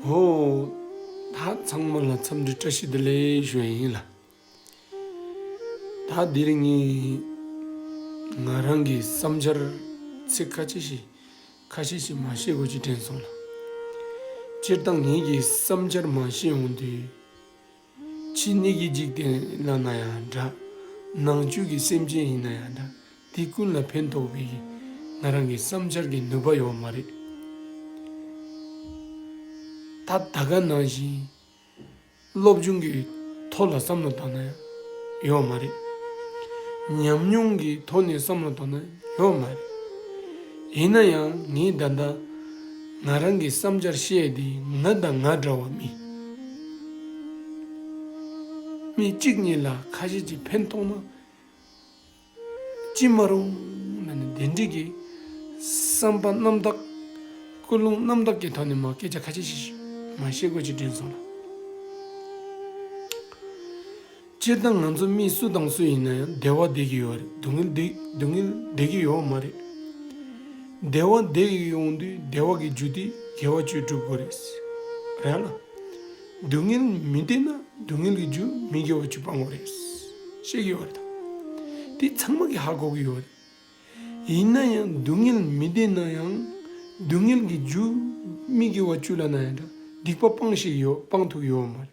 ཧོ། ད་ཚང་མ་ལ་འཚམས་འདྲི་བཀྲ་ཤིས་བདེ་ལེགས་ཞུ་ཡིན་ལ། ད་འདི་རིང་ངས་ང་རང་གི་བསམ་འཆར་ཚིག་ཁ་ཤས་ཤིག་ཁ་ཤས་ཤིག་མ་བཤད་དགོས་ཀྱི་དྲན་སོང་ལ། སྤྱིར་བཏང་ངེད་ཀྱི་བསམ་འཆར་མ་བཤད་འོང་དུས། ཕྱི་སྣོད་ཀྱི་འཇིག་རྟེན་ལ་ན་ཡང་འདྲ། ནང་བཅུད་ཀྱི་སེམས་ཅན་ཡིན་ན་ཡང་འདྲ། དེ་ཀུན་ལ་ཕན་ཐོགས་པའི་ང་རང་གི་བསམ་འཆར་གྱི་ནུས་པ་ཡོད་མ་རེད། ད་ལྟ་ག་ནང་བཞིན་སློབ་སྦྱོང་གི་ཐོག་ལ་བསམ་བློ་བཏང་ན་ཡོད་མ་རེད། ཉམས་མྱོང་གི་ཐོག་ནས་བསམ་བློ་བཏང་ན་ཡོད་མ་རེད། ཡིན་ན་ཡང་ངས་ད་ལྟ། ང་རང་གི་བསམ་འཆར་བཤད་དེ་ང་དང་ང་འདྲ་བ་མི་མི་གཅིག་གཉིས་ལ་ཁ་ཞེ་གཅིག་ཕན་མཐོང་ན་ཅི་མ་རུང་ན་ནི་འདི་འགྲིག་གི་བསམ་པ་རྣམ་དག་ཀུན་སློང་རྣམ་དག་གི་ཐོག་ནས་མ་སྐད་ཆ་ཁ་ཤས་ཤིག་མ་བཤད་དགོས་ཅེས་དྲན་སོང་ལ། སྤྱིར་བཏང་ང་ཚོ་མི་སུ་དང་སུ་ཡིན་ན་ཡང་བདེ་བ་བདེ་གི་ཡོད་རེད་སྡུག་བསྔལ་སྡུག་བསྔལ་བདེ་གི་ཡོད་མ་རེད། བདེ་བ་བདེ་ཡོང་དུས་བདེ་བ་གི་རྒྱུ་དེས་དགེ་བ་བཅུ་སྒྲུབ་དགོས་རེད། རེད་ལ། སྡུག་བསྔལ་མི་བདེ་ན་སྡུག་བསྔལ་གི་རྒྱུ་མི་དགེ་བ་བཅུ་སྤང་དགོས་རེད། བཤད་ཀྱི་ཡོད་རེད་དམ། དེ་ཚང་མ་གི་ཧ་གོ་གི་ཡོད་རེད། ཡིན་ན་ཡང་སྡུག་བསྔལ་མི་བདེ་ན་ཡང་སྡུག་བསྔལ་གི་རྒྱུ་མི་དགེ་བ་བཅུ་ལ་ན་ཡང་འདྲ་སྡིག་པ་སྤང་ཤེས་ཡོད་སྤང་ཐུབ་ཡོད་མ་རེད།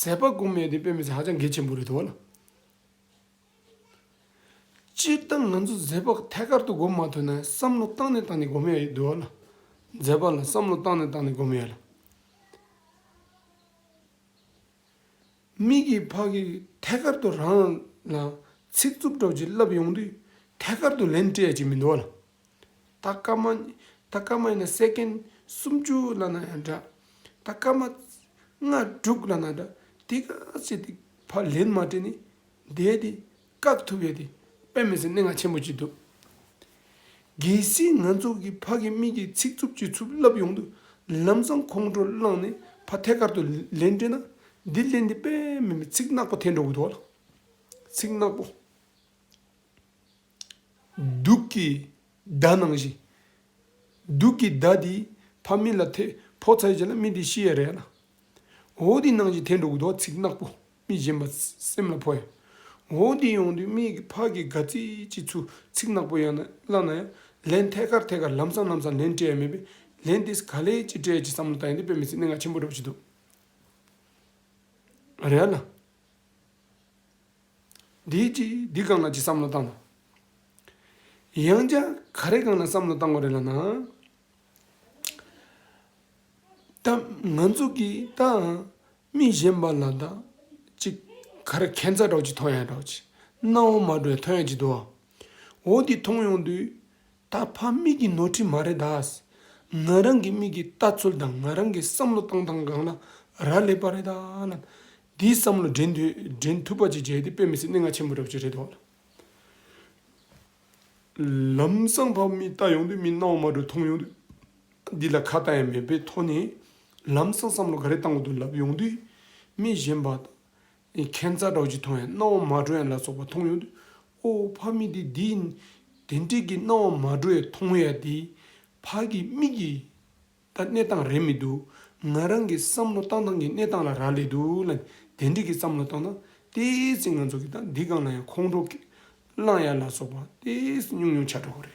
ཟད་པ་གོང་མའི་དེ་དཔེ་མི་སྲིད་ཧ་ཅང་གལ་ཆེན་པོ་རེད་དོ། སྤྱིར་བཏང་ང་ཚོ་ཟད་པ་ཐད་ཀར་དུ་གོ་མ་ཐུབ་ན་བསམ་བློ་བཏང་ནས་བཏང་ནས་གོ་མ་ཡོད་དོ། ཟད་པ་ལ་བསམ་བློ་བཏང་ནས་བཏང་ནས་གོ་མ་ཡོད། མིག་གི་ཕ་གི་ཐད་ཀར་དུ་རང་ལ་ཚིག་རྩུབ་གྲོགས་ཀྱིས་བསླབ་ཡོང་དུས་ཐད་ཀར་དུ་ལན་སྤྲད་ཅིག་མི་འདུག། ད་སྐར་མ། ད་སྐར་མ་ཡིན་ན Second སུམ་ཅུ་ལ་ན་ཡང་འདྲ། ད་སྐར་མ། ལྔ་དྲུག་ལ་ན་འདྲ་དེ་ག་ཚེ་དེ་ཕར་ལན་མ་སྤྲད་ནས་བསྡད་དེ་བཀག་ཐུབ་ཡོད་དེ་དཔེ་མི་སྲིད་གནད་འགག་ཆེན་པོ་གཅིག་འདུག། གལ་སྲིད་ང་ཚོ་གི་ཕ་གི་མིག་གི་ཚིག་རྩུབ་ཀྱི་ཚུབ་བརླབས་ཡོང་དུས་ལམ་སང་ཁོང་ཁྲོ་བསླངས་ནས་ཕ་ཐད་ཀར་དུ་ལན་སྤྲོད་ན་འདི་ལན་འདི་དཔེ་མིན་པའི་ཚིག་ནག་པོ་ཐལ་འགྲོ་གི་འདུག་ཚིག་ནག་པོ། གདུགས་ཀྱི་བརྡ་ནང་བཞིན། གདུགས་ཀྱི་བརྡ་འདི་ཕ་མི་ལ་ཐེ་ཕོག་ཚ་བྱེད་ལ་མི་དེ་ཤི་ཡས་རེད་ལ། འོ་དེ་ནང་བཞིན་དེ་འགྲོ་གི་འདུག་ཚིག་ནག་པོ་མི་གཞན་པ་སེམས་ལ་ཕོག་ཡ། འོ་དེ་ཡོང་དུས་མི་གི་ཕ་གི་དགའ་ཚིག་ཅིག་ཚུ་ཚིག་ནག་པོ་ཡང་ན་བླ་ན་ཡང་ལན་ཐད་ཀར་ཐད་ཀར་ལམ་སང་ལམ་སང་ལན་སྤྲད་ཡ་མེད་པས་ལན་དེས་ག་ལེ་ཅི་སྤྲད་ཅི་བསམ་བློ་བཏང་ཡ་འདི་དཔེ་མི་སྲིད་གནད་འགག་ཆེན་པོ་འགྲོ་བྱེད་འདུག་རེད་ལ། འདི་ཅི་འདི་གང་ལ་ཅི་བསམ་བློ་བཏང་དང། ཡང་བསྐྱར་ག་རེ་གང་ལ་བསམ་བློ་བཏང་གོ་རེད་ལབ་ན། ད་ང་ཚོ་གིས་ད་མི་གཞན་པ་ལ་ད་ཅིག་ག་རེ་ཁན་ཚ་གྲོགས་ཅིག་ཐོ་ཡང་གྲོགས་ཅིག་སྣ་བོ་མ་གྲོས་ཐོ་ཡང་ཅིག་དུ་བ་འོ་འདི་མཐོང་ཡོང་དུས་ད་ཕ་མིག་གི་ནོར་འཁྲི་མ་རེད་ད། ང་རང་གི་མིག་གི་ལྟ་ཚུལ་དང་ང་རང་གི་བསམ་བློ་བཏང་སྟངས་གང་ལ་རག་ལས་པ་རེད་ད་ལབ་དེའི་བསམ་བློ་འདྲེན་འདྲེན་ཐུབ་པ་ཅིག་བྱས་ཏེ་དཔེ་མི་སྲིད་གནས་ལྔ་ཆེན་པོ་འདྲ་བྱེད་རེ་དོགས། ལམ་སང་ཕ་མི་ལྟ་ཡོང་དུས་མི་སྣང་བ་མ་གྲོས་མཐོང་ཡོང་དུས། འདི་ལ་ཁ་བཏགས་ཡང་མེད་པའི་ཐོག་ནས་ལམ་སང་བསམ་བློ་ག་རེ་བཏང་གོ་འདུག་ལབ་ཡོང་དུས། མི་གཞན་པ་དང། ཁྱད་མཚར་སྒྲོག་ཅིག་མཐོང་ཡང་སྣང་བ་མ་གྲོས་ཡང་ལ་སོགས་པ་མཐོང་ཡོང་དུས། ཨོ་ཕ་མི་འདི་འདི་ཡིན། དེ་འདྲིས་ཀྱི་སྣང་བ་མ་གྲོས་མཐོང་ཡ་དེའི་ཕ་གི་མིག་གིས། ད་གནས་སྟངས་རན་མི་འདུག་ང་རང་གི་བསམ་བློ་བཏང་སྟངས་ཀྱི་གནས་སྟངས་ལ་རག་ལས་འདུག་ལ། དེ་འགྲིག་གི་བསམ་བློ་བཏང་ན་ལྟས་ཚེ་ང་ཚོ་གི་ད་འདི་སྒང་ལ་ཡང་ཁོང་ཁྲོ་གི། གླང་ཡག་ལ་སོགས་པ་ལྟས་ཉུང་ཉུང་ཆགས་འགྲོ་གི་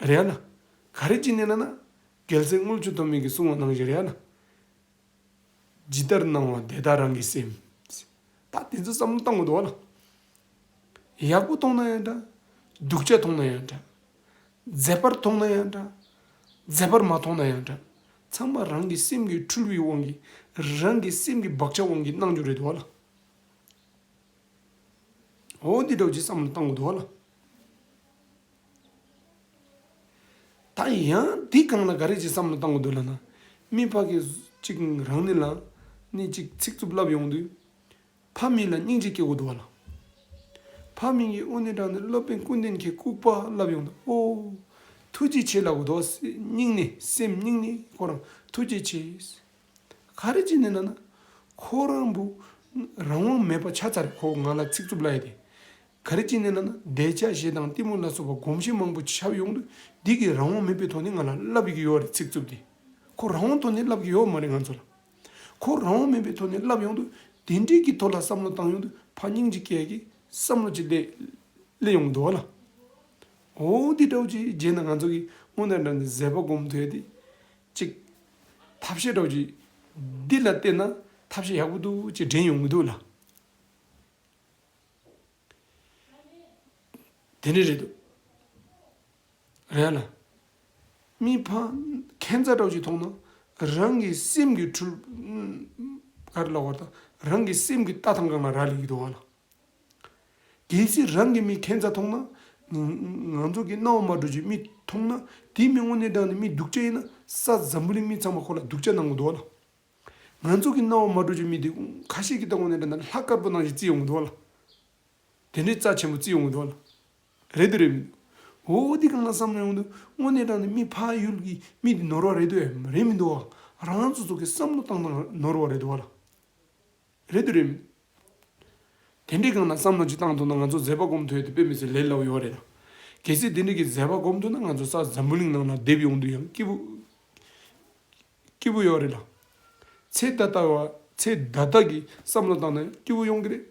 རེད། རེད་ལ། ག་རེ་ཅི་གནས་ན་ན། གལ་སྲིད་དངུལ་ཆུ་དོ་མིག་གི་སྲུང་བ་གནང་བཞིན་རེད་ལ། ཇི་ལྟར་སྣང་བ་དེ་ལྟར་རང་གི་སེམས། ད་དེ་ཚོ་བསམ་བློ་བཏང་གི་འདུག་ལ། ཡག་པོ་མཐོང་ན་ཡང་འདྲ། སྡུག་ཅག་མཐོང་ན་ཡང་འདྲ། མཛེས་པར་མཐོང་ན་ཡང་འདྲ། མཛེས་པར་མ་མཐོང་ན་ཡང་འདྲ། ཚང་མ་རང་གི་སེམས་ཀྱི་འཁྲུལ་བའི་དབང་གིས། རང་གི་སེམས་ཀྱི་བག་ཆགས་དབང་གིས་སྣང་རྒྱུ་རེད་འདུག་ལ། འོ་འདི་འདྲ་བྱས་བསམ་བློ་བཏང་གི་འདུག་ལ། ད་ཡང་འདི་སྒང་ལ་ག་རེ་བྱེད་བསམ་བློ་བཏང་གི་འདུག་ལ་ན་མི་ཕ་གི་གཅིག་རང་ནི་ལ་ནི་གཅིག་ཚིག་རྩུབ་ལབ་ཡོང་དུས་ཕ་མི་ལ་སྙིང་རྗེ་སྐྱེ་དགོས་འདུག་བ་ལ། ཕ་མི་གི་དབུ་སྣེ་དྲངས་ནས་སློབ་དཔོན་ཀུན་ལྡན་མཁས་ལྐུགས་པ་ལབ་ཡོང་དུས་ཨོ། ཐུགས་རྗེ་ཆེ་ལབ་གི་འདུག་བ་སྙིང་ནས་སེམས་སྙིང་ནས་ཁོ་རང་ཐུགས་རྗེ་ཆེ། ག་རེ་བྱེད་ནི་ལ་ན་ཁོ་རང་བུ་རང་དབང་མེད་པ་ཆ་ཚ་རེད་ཁོ་ང་ལ་ཚིག་རྩུབ་ལབ་ཡ་དེ་ག་རེ་ཅི་གནས་ན་ན་བཟླས་བྱ་ཞེས་དང་གཏི་མུག་ལ་སོགས་པ་སྒོམ་བྱེད་མང་པོ་ཆབ་ཡོངས་དུ་སྡིག་གི་རང་དབང་མེད་པའི་ཐོག་ནས་ང་ལ་བསླབ་ཡི་གི་ཡོད་རེད་ཚིག་རྩུབ་དེ། ཁོ་རང་དབང་ཐོག་ནས་བསླབ་གི་ཡོད་མ་རེད་ང་ཚོ་ལ། ཁོ་རང་དབང་མེད་པའི་ཐོག་ནས་བསླབ་ཡོང་དུ་དེ་འབྲེལ་གྱི་ཐོག་ལ་བསམ་བློ་བཏང་ཡོང་དུ་ཕ་སྙིང་རྗེ་སྐད་ཀྱི་བསམ་བློ་ཅིག་སླེ་སླེ་ཡོང་གི་འདུག་བ་ལ། འོ་འདི་འདྲ་བོ་ཅིག་བརྗེད་ན་ང་ཚོ་གི་སྔོན་དང་འདྲ་འདི་ཟད་པ་སྒོམ་ཐོས་དེ་ཅིག། ཐབས་ཤེས་འདྲ་བོ་ཅིག་འདི་ལ་བལྟས་ན་ཐབས་ཤེས་ཡག་པོ་འདུག་ཅེས་དྲན་ཡོང་གི་འདུག་ལ། དེ་ནི་རེད་འདུག། རེད་ལ། མི་ཕམ། ཁན་རྩ་གྲོགས་ཀྱིས་མཐོང་ན། རང་གི་སེམས་ཀྱི་འཁྲུལ། ག་རེ་ལ་བར་དང། རང་གི་སེམས་ཀྱི་ལྟ་སྟངས་གང་ལ་རག་ལས་ཀྱི་འདུག་བ་ལ། གལ་སྲིད་རང་གི་མི་ཁན་རྩ་མཐོང་ན། ང་ཚོ་གི་གནའ་བོ་མ་གྲོགས་ཀྱི་མི་མཐོང་ན། དེའི་མི་དངོས་གནས་བདག་ནི་མི་སྡུག་ཅན་ཡིན་ན། ས་འཛམ་བུ་གླིང་མི་ཚང་མ་ཁོ་ལ་སྡུག་ཅག་གནང་གི་འདུག་བ་ལ། ང་ཚོ་གི་སྣང་བ་མ་གྲོལ་ཆོག་མི་དེ་ཁ་ཤས་ཀྱི་ལྟ་དགོངས་ནས་འདྲ་ན་ལྷ་དཀར་པོ་ནང་བཞིན་བརྩི་ཡོང་གི་འདུག་བ་ལ། དེ་འདྲའི་རྩ་ཆེན་པོ་བརྩི་ཡོང་གི་འདུག་བ་ལ། རེད་དུ་རེད་མི་འདུག། འོ་འདི་གང་ལ་བསམ་བློ་ཡོང་དུས་དངོས་གནས་དྲང་ནས་མི་ཕ་ཡུལ་གྱི་མི་དེ་ནོར་བ་རེད་དུ་འམ་རེད་མི་འདུག་བ། རང་ཚོ་ཚོ་གི་བསམ་བློ་བཏང་བཏང་ནོར་བ་རེད་དུ་བ་ལ། རེད་དུ་རེད་མི་འདུག། དེ་འདྲའི་གང་ལ་བསམ་བློ་གཅིག་བཏང་ཐུབ་ན་ང་ཚོ་མཛད་པ་སྒོམ་ཐུབ་ཡ་དེ་དཔེ་མི་སྲིད་ལས་སླ་བོ་ཡོད་བ་རེད་ལ། གལ་སྲིད་དེ་འདྲའི་གི་མཛད་པ་སྒོམ་ཐུབ་ན་ང་ཚོ་ས་འཛམ་བུ་གླིང་ནང་ལ་བསྡད་པའི་དབང་དུ་ཡང་སྐྱིད་པོ། སྐྱིད་པོ་ཡོད་རེད་ལ། ཚེ་ད་ལྟ་བ་ཚེ་ད་ལྟ་གི་བསམ་བློ་དང་ན་སྐྱིད་པོ་ཡོང་གི་རེད།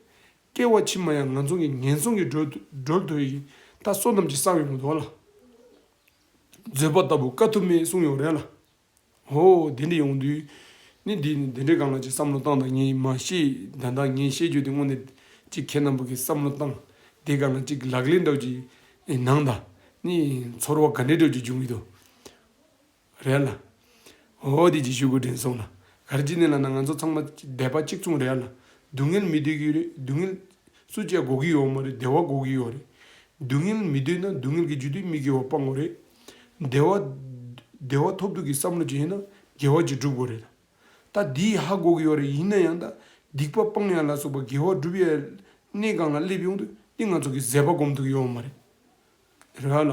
སྐྱེ་བ་ཕྱི་མ་ཡང་ང་ཚོང་གི་ངན་སོང་གི་འགྲོ་འགྲོལ་དོད་ཡིན་ད་བསོད་ནམས་ཀྱི་ས་བོན་མི་འདོར་ལ། བཟོད་པ་ལྟ་བུ་དཀའ་ཐུབ་མེད་གསུངས་ཡོད་རེད་ལ། ཧོ་དེ་འདྲས་ཡོང་དུས་ནི་འདི་ནི་དེ་འདྲས་གང་ལ་ཅིག་བསམ་བློ་བཏང་ད་ངས་མ་ཤེས་ད་ད་ངས་བཤད་རྒྱུ་དེ་དངོས་གནས་ཅིག་ཁྱེད་རྣམས་པོ་གིས་བསམ་བློ་བཏང་དེ་གང་ལ་ཅིག་ལག་ལེན་སྒྲུབ་ཀྱི་གནང་ད་ནི་ཚོར་བ་ག་འདྲས་སྒྲུབ་ཀྱི་འབྱུང་གི་འདུག་རེད་ལ། འོ་འོ་དེ་ཅིག་ཞུ་དགོས་དྲན་སོང་ལ། ག་རེ་ཅི་ནས་ལ་ན་ང་ཚོ་ཚང་མ་སྡེ་པ་གཅིག་མཚུངས་རེད་ལ། སྡུག་བསྔལ་མི་སྡོད་ཀྱི་རེད་སྡུག་བསྔལ། སུ་བཅད་དགོ་གི་ཡོད་མ་རེད་བདེ་བ་དགོ་གི་ཡོད་རེད། སྡུག་བསྔལ་མི་སྡོད་ན་སྡུག་བསྔལ་གྱི་རྒྱུ་དེ་མིག་གི་འོག་སྤང་དགོ་རེད། བདེ་བ། བདེ་བ་ཐོབ་ཐུབ་ཀྱི་བསམ་བློ་བྱས་ན་དགེ་བ་གཅིག་བསྒྲུབ་དགོ་རེད་ད། ད་འདི་ཡི་ཧ་དགོ་གི་ཡོད་རེད་ཡིན་ན་ཡང་ད་སྡིག་པ་སྤང་ཡ་ལ་སོགས་པ་དགེ་བ་བསྒྲུབ་ཡའི། གནས་གང་ལ་སླེབས་ཡོང་དུས་འདི་ང་ཚོ་གི་ཟད་པ་སྒོམ་ཐུབ་ཀྱི་ཡོད་མ་རེད། རེད་ལ།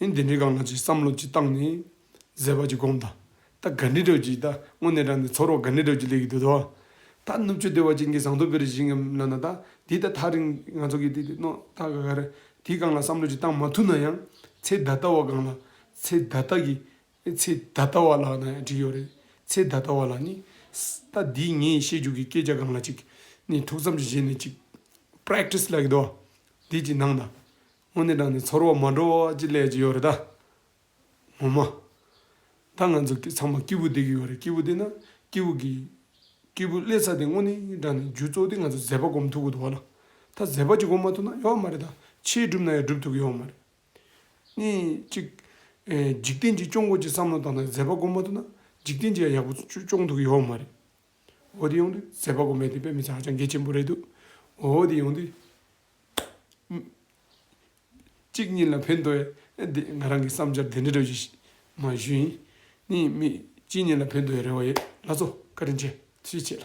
ཨེ་འདི་འདྲའི་གང་ལ་ཅིག་བསམ་བློ་ཅིག་བཏང་ནས། ཟེར་བ་ཅིག་སྒོམ་ད། ད་དགའ་འདྲེ་དྲོད་ཀྱིས་ད་དངོས་གནས་དྲངས་ནས་འཚོ་རོགས་དགའ་འདྲེ་དྲོད་ཀྱིས་ལས་ཀྱི་དུས་དོ། ད་ནུབ་ཆུ་སྡེ་བ་ཅན་གྱི་ཟངས་མདོག་བེར་བཞིན་གྱི་ནང་ན་ད་འདི་ད་ཐག་རིང་ང་ཚོ་གི་འདི་འདི་རྣོ་ད་ག་ག་རེ་དེའི་གང་ལ་བསམ་བློ་ཅིག་བཏང་མ་ཐུབ་ན་ཡང་ཚེ་ད་ལྟ་བ་གང་ལ་ཚེ་ད་ལྟ་གི་ཚེ་ད་ལྟ་བ་ལགས་ན་ཡང་འགྲིག་ཡོད་རེད་ཚེ་ད་ལྟ་བ་ལ་ནི། ད་འདིས་ངས་བཤད་རྒྱུ་གི་སྐད་ཆ་གང་ལ་ཅིག་ནི་ཐུགས་བསམ་ཅིག་བཞེས་ནས་ཅིག། Practice ལས་ཀྱི་དོ། འདི་ཅིག་གནང་ད། དངོས་གནས་བསྒྲགས་ནས་ཚོར་བ་མ་འགྲོ་བ་ཅིག་ལས་ཅི་ཡོད་རེད་ད། ངོ་མ། ད་ང་ཚོ་ཚང་མ་སྐྱིད་པོ་བསྡད་ཀྱི་ཡོད་རེད་སྐྱིད་པོ་བསྡད་ན་སྐྱིད་པོ་གི། སྐྱིད་པོ་བསླེ་ཚར་དེ་དངོས་གནས་བསྒྲགས་ནས་རྒྱུ་གཙོ་དེ་ང་ཚོ་མཛད་པ་སྒོམ་ཐུབ་ཀྱི་འདུག་བ་ལ། ད་མཛད་པ་ཅིག་སྒོམ་མ་ཐུབ་ན་ཡོད་མ་རེད་ད་ཕྱིའི་སྒྲུབ་ན་ཡང་སྒྲུབ་ཐུབ་ཀྱི་ཡོད་མ་རེད། གཉིས་གཅིག། འཇིག་རྟེན་གྱི་སྐྱོང་སྒོ་ཅིག་བསམ་བློ་བཏང་ན་མཛད་པ་སྒོམ་མ་ཐུབ་ན་འཇིག་རྟེན་གྱི་ཡང་ཡག་པོ་སྐྱོང་ཐུབ་ཀྱི་ཡོད་མ་རེད། འོ་དེ་ཡོང་དུས་མཛད་པ་སྒོམ་མཁན་དེ་དཔེ་མི་ཚད་ཧ་ཅང་གལ་ཆེན་པོ་རེད་འདུག་འོ་དེ་ཡོང་དུས། གཅིག་གཉིས་ལ་ཕན་འདོད་དེ་ང་རང་གི་བསམ་འཆར་དེ་འདྲ་འདྲ་ཞིག་མ་གཞི་ནས་མི་གཅིག་གཉིས་ལ་ཕན་འདོད་རེ་བ་ཡོད་ལགས་སོ་བཀའ་དྲིན་ཆེ་ཞེས་བྱས་ལ།